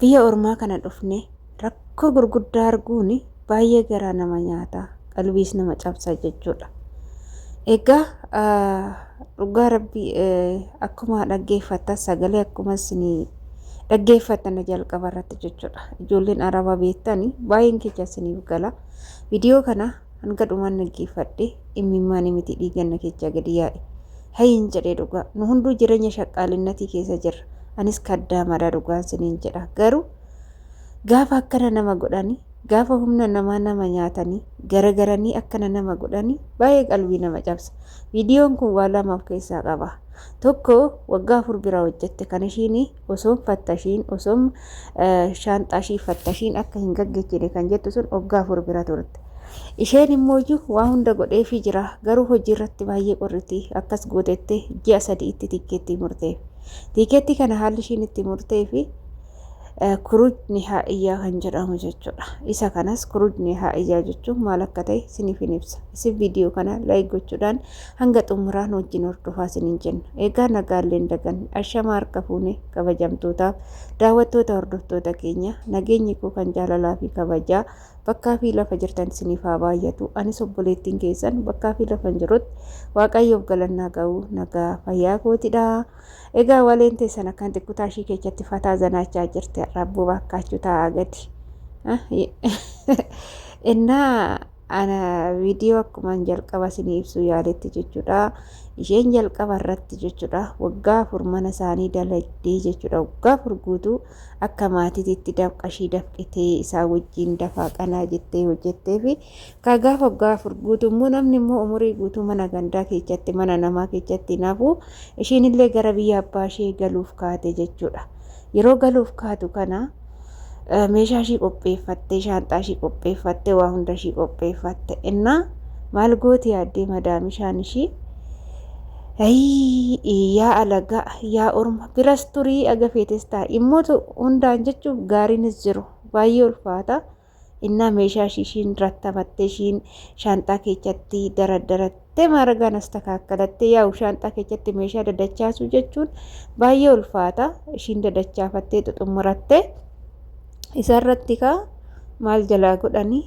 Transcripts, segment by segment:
Biyya ormaa kana dhufnee rakkoo gurguddaa arguun baay'ee garaa nama nyaata, qalbiis nama cabsa jechuudha. Egaa dhugaa rabbii akkuma dhaggeeffattan sagalee akkuma isin dhaggeeffattan jalqaba irratti jechuudha. Ijoolleen araba beektani baay'een kecha isiniif gala. Viidiyoo kana Hanga dhumaan dhaggeeffadhe immimmaani miti dhiigan na keechaa gadi yaa'e. Hayiin jedhee dhugaa. Nu hunduu jireenya shaqqaalinnatii keessa jirra. Anis kaddaamadha dhugaan siniin jedha. Garuu gaafa akkana nama godhani gaafa humna namaa nama nyaatanii garagaranii akkana nama godhani baay'ee qalbii nama cabsa. Viidiyoon kun waa lama of keessaa qaba. Tokko waggaa afur bira hojjette kan ishiin osoon fattashiin osoon shaanxaa ishii fattashiin akka hin gaggechine kan jettu sun waggaa afur bira turte. Isheen immoo iyyuu waa hunda godheefii jira garuu hojii irratti baay'ee qorriti akkas gootettee ji'a sadii itti tikkeettii murteef. Tikkeettii kana haalli ishiin itti murtee fi kuruj nihaa iyyaa kan jedhamu jechuudha. Isa kanas kuruj nihaa iyyaa jechuun maal akka ta'e isiniif hin ibsa. Isin viidiyoo kana laayik gochuudhaan hanga xumuraa nu wajjin hordofaa isiniin jenna. Egaa nagaalleen dagan ashama harka fuune kabajamtootaaf daawwattoota hordoftoota keenya nageenyi koo kan jaalalaa fi kabajaa bakkaa fi lafa jirtan isiniif haa baay'atu. Anis obboleettiin keessan bakkaa fi lafan jirutti waaqayyoof galannaa ga'u nagaa fayyaa kootidha. Egaa waleen teessan akkaan xiqqotaa ishii keessatti fataa zanaachaa jirti. Rabbuu baakkaachuu taa'aa gadi. እና ana viidiyoo akkuman jalqaba isinii ibsuu yaaletti jechuudha. Isheen jalqaba irratti jechuudha waggaa afur mana isaanii dalagdee jechuudha waggaa afur guutuu akka maatiititti dafqa ishii dafqitee isaa wajjin dafaa qanaa jettee hojjettee fi ka gaafa waggaa afur guutuu immoo namni immoo umurii guutuu mana gandaa keessatti mana namaa keessatti naafuu ishiin illee gara biyya abbaa ishee galuuf kaate jechuudha. Yeroo galuuf kaatu kana meeshaa ishii qopheeffattee shaanxaa ishii qopheeffattee waa hunda ishii qopheeffatte innaa maal gooti yaaddee madaamishaan ishii yaa alagaa yaa orma biras turii agafeetes taa'e immoo hundaan jechuuf gaariinis jiru baay'ee ulfaata. Innaa meeshaa ishiin rattamattee ishiin shaanxaa keessatti daraddarattee maaragaan as takaakkalattee yaa'u shaanxaa keessatti meeshaa dadachaasuu jechuun baay'ee ulfaata. Ishiin dadachaafattee xuxummurattee isarratti kaa maal jalaa godhanii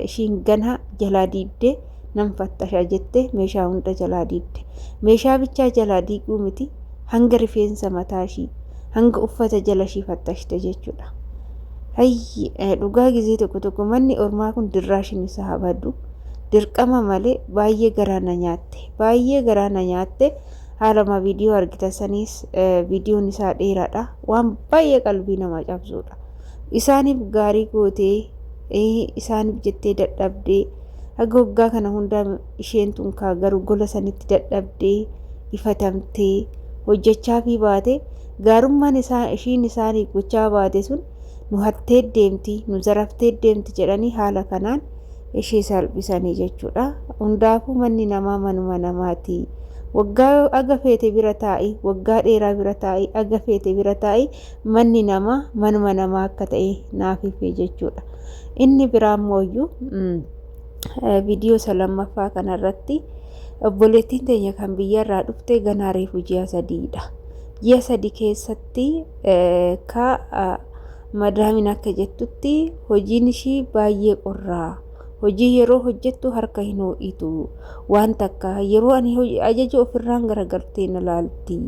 ishiin ganaa jalaa diibdee nan fattasha jettee meeshaa hunda jalaa diigde. Meeshaa bichaa jalaa diiguu miti hanga rifeensa mataa ishii hanga uffata jala ishii fattashte jechuudha. Hayyi dhugaa gizee tokko tokko manni ormaa kun dirraashin isaa habadu dirqama malee baay'ee garaa na nyaatte baay'ee garaa na nyaatte haaluma viidiyoo argitan saniis viidiyoon isaa dheeraadha waan baay'ee qalbii nama cabsuudha. Isaaniif gaarii gootee, ee, isaaniif jettee dadhabdee, haga waggaa kana hundaa isheen tun kaa garu gola sanitti dadhabdee, ifatamtee, hojjachaa fi baate, gaarummaan isaa ishiin isaaniif gochaa baate sun nu hattee deemti, nu zaraftee deemti jedhanii haala kanaan ishee salphisanii jechuudha. Hundaafuu manni namaa manuma namaati. Waggaa aga feete bira taa'i, waggaa dheeraa bira taa'i, aga feete bira taa'i, manni namaa manuma namaa akka ta'e naaf hifee jechuudha. Inni biraa immoo iyyuu viidiyoo isa lammaffaa kanarratti obboleettiin teenya kan biyyarraa dhufte ganaa reefu ji'a sadiidha. Ji'a sadi keessatti ka madaamiin akka jettutti hojiin ishii baay'ee qorraa. Hojii yeroo hojjettu harka hin hoo'itu. Waan takka yeroo ani ajaju ofirraan garagartee na laalti.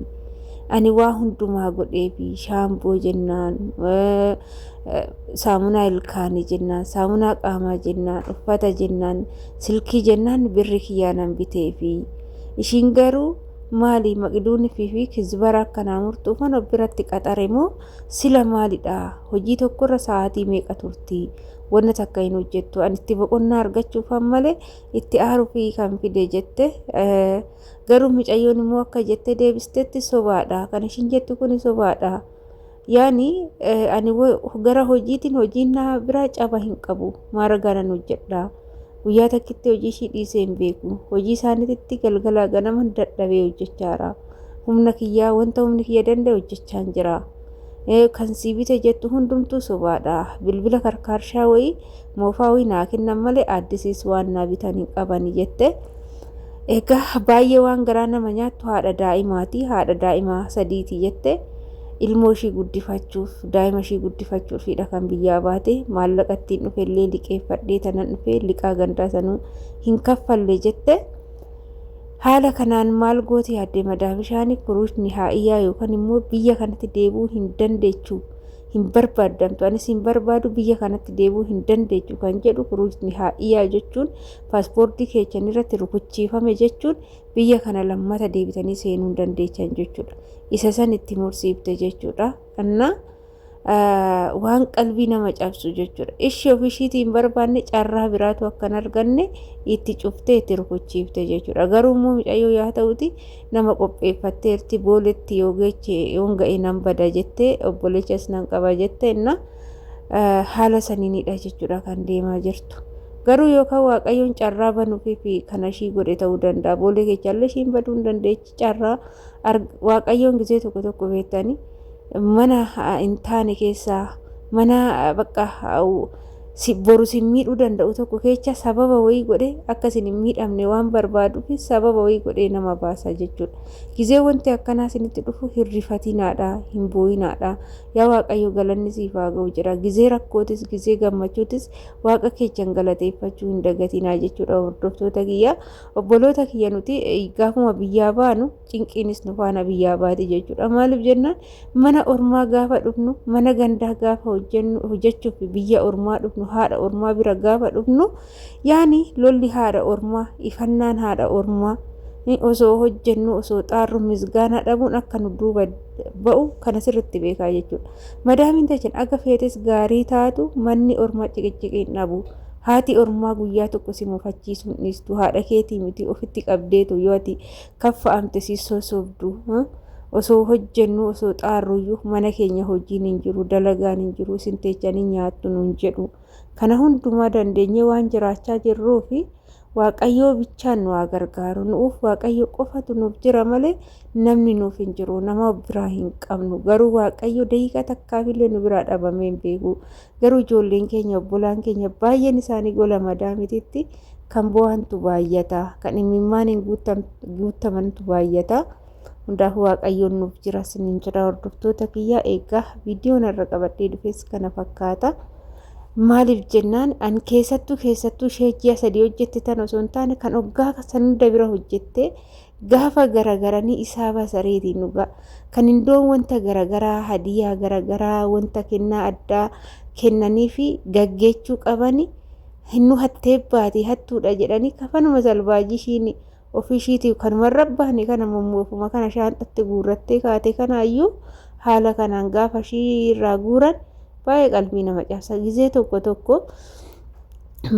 Ani waa hundumaa godheefi shaamboo jennaan saamunaa ilkaanii jennaan saamunaa qaamaa jennaan uffata jennaan silkii jennaan birri kiyyaanan biteefi. Ishiin garuu maali maqduun fi kizbara akkanaa murtuufan of biratti qaxare moo sila maalidha hojii tokkorra sa'aatii meeqa turti wanna takka hin hojjettu an itti boqonnaa argachuufan malee itti aarufi kan fide jette garuu mucayyoon immoo akka jette deebistetti sobaadha kan ishin jettu kun sobaadha yaani ani gara hojiitiin hojiin naa biraa caba hin qabu maaragaanan hojjedha guyyaa takkitti hojii ishii dhiisee hin beeku hojii isaaniititti galgalaa ganaman dadhabee hojjechaara humna kiyyaa wanta humni kiyya danda'e hojjechaan jira. kan sii bite jettu hundumtuu sobaadha bilbila karkaarshaa wayii moofaa wayii naa kennan malee addisiis waan naa bitan hin qaban jette egaa baay'ee waan garaa nama nyaattu haadha daa'imaati haadha daa'imaa sadiiti jette ilmoo ishii guddifachuuf daa'ima ishii guddifachuufidha kan biyyaa baate maallaqa ittiin dhufe illee liqeeffadhee tanan dhufe liqaa gandaa sanuu hin kaffalle jette. Haala kanaan maal gooti yaadde madaa bishaanii kuruush nihaa'iyyaa yookaan immoo biyya kanatti deebi'uu hin dandeechu hin barbaaddamtu anis hin barbaadu biyya kanatti deebi'uu hin dandeechu kan jedhu kuruush nihaa'iyyaa jechuun paaspoortii keechan irratti rukuchiifame jechuun biyya kana lammata deebitanii seenuu hin dandeechan jechuudha. Isa san itti mursiifte jechuudha. Annaa waan qalbii nama cabsu jechuudha. Ishii of ishiitii hin barbaanne carraa biraatu akka hin arganne itti cuftee itti rukuchiifte jechuudha. Garuu immoo mucayyoo yaa ta'uti nama qopheeffatteerti booletti yoo geeche yoon ga'e nan bada jettee obboleechas nan qaba jette inna haala saniinidha jechuudha kan deemaa jirtu. Garuu yookaan waaqayyoon carraa banuufi fi kana ishii godhe ta'uu danda'a. Boolee keechaallee ishiin baduu hin dandeechi. carraa waaqayyoon gizee tokko tokko beektanii mana hin taane keessaa mana bakka boru sin miidhuu danda'u tokko kecha sababa wayii godhe akka isin hin miidhamne waan barbaaduuf sababa wayii godhee nama baasa jechuudha. Gizee wanti akkanaa isinitti dhufu hin rifatinaadha hin booyinaadha yaa waaqayyo galanni siif haa ga'u jira gizee rakkootis gizee gammachuutis waaqa keechan galateeffachuu hin dagatinaa jechuudha hordoftoota kiyyaa. Obboloota kiyya nuti gaafuma biyyaa baanu cinqiinis nu faana biyyaa baati jechuudha. Maaliif jennaan mana ormaa gaafa dhufnu mana gandaa gaafa hojjennu hojjechuuf biyya ormaa dhufnu haadha ormaa bira gaafa dhufnu yaani lolli haadha ormaa ifannaan haadha ormaa osoo hojjennu osoo xaarru misgaanaa dhabuun akka nu duuba ba'u kana sirritti beekaa jechuudha. Madaamiin tachin akka feetes gaarii taatu manni ormaa ciqiciqiin dhabu. Haati ormaa guyyaa tokko si mufachiisuu hin dhiistu. Haadha keetii miti ofitti qabdeetu yoo ati kaffa'amte si sosobdu. Osoo hojjennu osoo xaarruyyuu mana keenya hojiin hin jiru dalagaan hin jiru isin teechanii nyaattu nuun jedhu. Kana hundumaa dandeenyee waan jiraachaa jirruu fi waaqayyoo bichaan nu haa gargaaru. Nuuf waaqayyo qofatu nuuf jira malee namni nuuf hin jiru. Nama biraa hin qabnu. Garuu waaqayyo daqiiqaa takkaafillee nu biraa dhabamee hin beeku. Garuu ijoolleen keenya obbolaan keenya baay'een isaanii gola madaamititti kan bo'antu baay'ata. Kan imimmaaniin guuttamantu baay'ata. Hundaaf waaqayyoon nuuf jira siniin jira hordoftoota kiyyaa eegaa viidiyoon irra qabadhee dhufes kana fakkaata. Maaliif jennaan an keessattuu keessattuu ishee ji'a sadii hojjette tan osoo hin taane kan oggaa san hunda bira hojjette gaafa garagaranii isaa basareetii dhugaa kan indoon wanta garagaraa hadiyaa garagaraa wanta kennaa addaa kennanii fi gaggeechuu qabani hinnu hattee baati hattuudha jedhanii kafanuma salbaajii ishiin ofii ishiitiif kanuma rabbaani kana mummuufuma kana shaanxatti guurrattee kaatee kanaayyuu haala kanaan gaafa ishii irraa guuran baay'ee qalbii nama cabsa gizee tokko tokko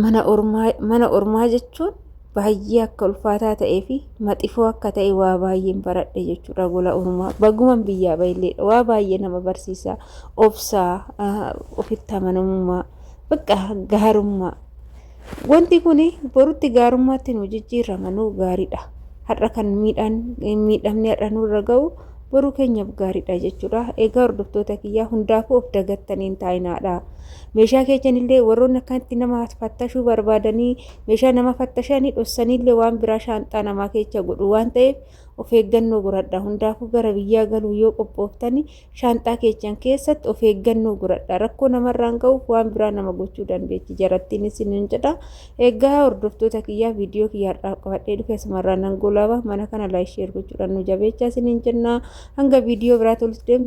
mana ormaa mana ormaa jechuun baay'ee akka ulfaataa ta'ee fi maxifoo akka ta'e waa baay'een baradhe jechuudha gola ormaa baguman biyyaa baay'ee waa baay'ee nama barsiisa obsaa ofitti amanamummaa bakka gaarummaa wanti kun borutti gaarummaatti nu jijjiirrama nu gaariidha har'a kan miidhaan miidhamni har'a nurra ga'u boruu keenyaaf gaariidha jechuudha. Egaa hordoftoota kiyyaa hundaafuu of dagattaniin taa'inaadha. Meeshaa keessanillee warroonni akkanatti nama fattashuu barbaadanii meeshaa nama fattashanii dhossaniillee waan biraa shaanxaa namaa keessa godhu waan ta'eef of eeggannoo godhadha. Hundaafuu gara biyyaa galuu yoo qophooftanii shaanxaa keessan keessatti of eeggannoo godhadha. Rakkoo namarraan ga'uuf waan biraa nama gochuu dandeetti. Jarattiin isin hin jedha. Egaa hordoftoota kiyyaa viidiyoo kiyya har'aaf qabadhee dhufe asumarraa nan goolaba mana kana laayik sheer gochuudhaan nu jabeechaa isiniin jennaa hanga viidiyoo biraa toltu deemtu.